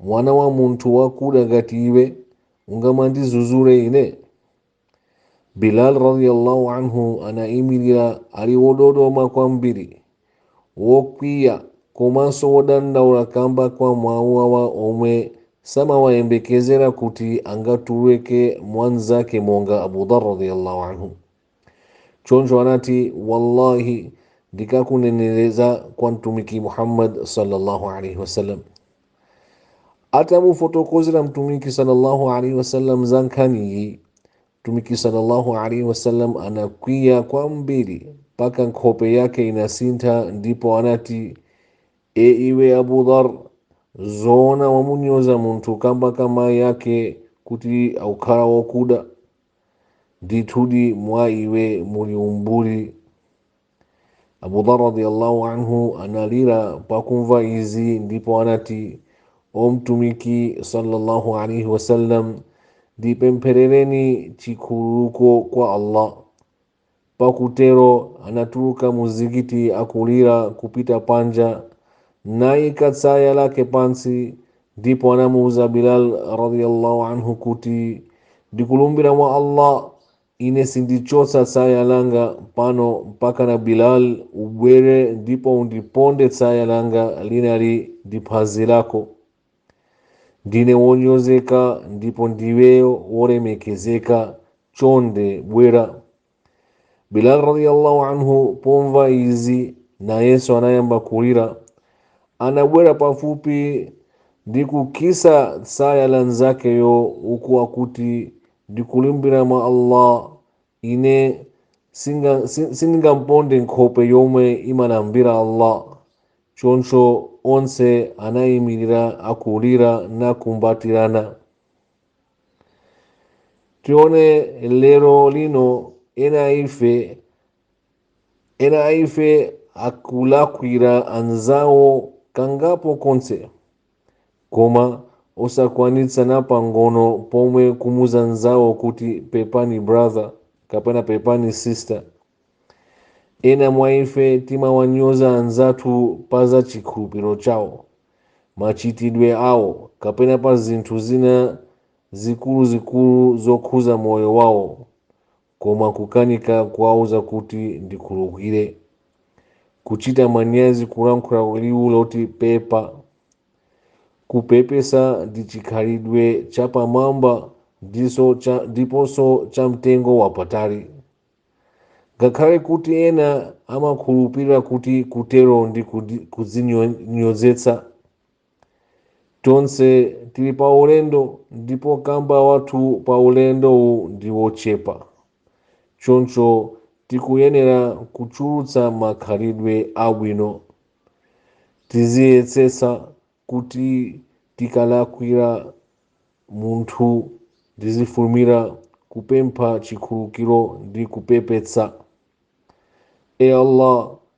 Mwana wa munthu wakuda ngati iwe ungamandizuzule ine? Bilal radiyallahu anhu anaimirira ali wododoma kwambiri, wokwiya komanso wodandaula kamba kwa mawu awa omwe samawayembekezera kuti angatuluke mwa nzake monga Abu Dhar radiyallahu anhu. choncho anati wallahi ndikakuneneza kwa mtumiki muhammad sallallahu alaihi wasallam atamufotokozera mtumiki sallallahu alaihi wasallam za nkhaniyi mtumiki sallallahu alaihi wasallam anakwiya kwambiri mpaka nkhope yake inasintha ndipo anati e iwe abu dhar zoona wamunyoza munthu kamba ka mayi ake kuti akukhala wokuda ndithudi mwa iwe muli umbuli abu dhar radiallahu anhu analira pakumva izi ndipo anati o mtumiki sallallahu alaihi wasallam ndipempherereni chikhululuko kwa allah Pakutero anatuluka muzikiti akulira kupita panja, naika tsaya lake pansi, ndipo anamuuza Bilal radiyallahu anhu kuti, ndikulumbira mwa Allah, ine sindichotsa tsaya langa pano mpakana Bilal ubwere ndipo undiponde tsaya langali ndi phazi lako. ndine wonyozeka ndipo ndiweyo wolemekezeka chonde bwera bilal radiyallahu anhu pomva izi nayenso anayamba kulira anabwera pafupi ndi kukisa tsaya la nzakeyo uku akuti ndikulumbira mwa allah ine sindingaponde nkhope yomwe imalambira allah choncho onse anayimirira akulira nakumbatirana tione lero lino ena a ife akulakwira anzawo kangapo konse koma osakwanitsa napang'ono pomwe kumuuza nzawo kuti pepani brother kapena pepani sister ena mwa ife timawanyoza anzathu pa za chikhulupiriro chawo machitidwe awo kapena pa zinthu zina zikuluzikulu zokhuza moyo wawo koma kukanika kuwauza kuti ndikhululukire, kuchita manyazi kulankhula liwu loti pepa. Kupepesa ndi chikhalidwe chapamwamba ndiponso cha mtengo wapatali. Ngakhale kuti ena amakhulupirira kuti kutero ndi kudzinyozetsa, Tonse tili pa ulendo ndipo kamba wathu pa ulendowu ndi wochepa. Choncho tikuyenera kuchulutsa makhalidwe abwino. Tiziyetsetsa kuti tikalakwira munthu tizifulumira kupempha chikhululukiro ndi kupepetsa. E Allah